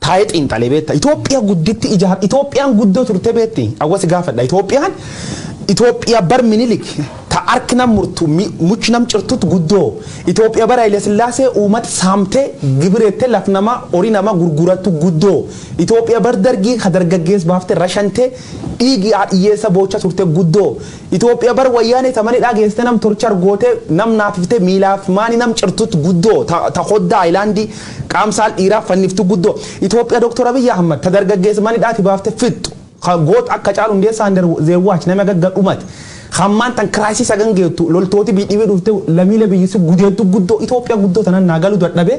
Taa'ee xiinxale beetta. Itoophiya gudditti ijaar Itoophiyaan guddoo turte beetti? Awwa si gaafadha Itoophiyaan Itoophiya bar Minilik ta hark nam murtu mi much nam cirtut guddoo Itoophiya bar Hayilasillaasee uumat saamte gibirette laf nama hori nama gurgurattu guddoo Itoophiya bar Dargii ka dargaggeess baafte rashante dhiigi haadhiyyeessa boocha turte guddoo Ethiopia bar wayyaanee ta manidhaa geessite nam torchar gootee nam naafifte miilaaf maani nam cirtut guddoo ta ta koddaa island qaam saal dhiiraa fanniftu guddoo Ethiopia Doktar Abiy Ahmed ta dargaggeessa manidhaati baafte fixxu ka goot akka Hacaaluu Hundeessaa and their watch nami haga ga dhumati ka ammaan tan crisis hagan geettu loltooti biy dhibii dhufte lamiile biyyi si gudeeddu guddoo Ethiopia guddoo tanan naa galu dadhabee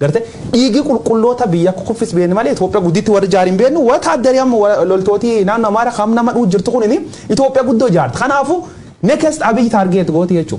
Garte dhiigi qulqulloota biyya kuffis beekne malee Itoophiya gudditti warri jaare hin beeknu wataaddari amma loltooti naannoo Amaara kam nama dhuu jirtu kunini Itoophiya guddoo jaarte kanaafu next Abiy target gooti jechuu.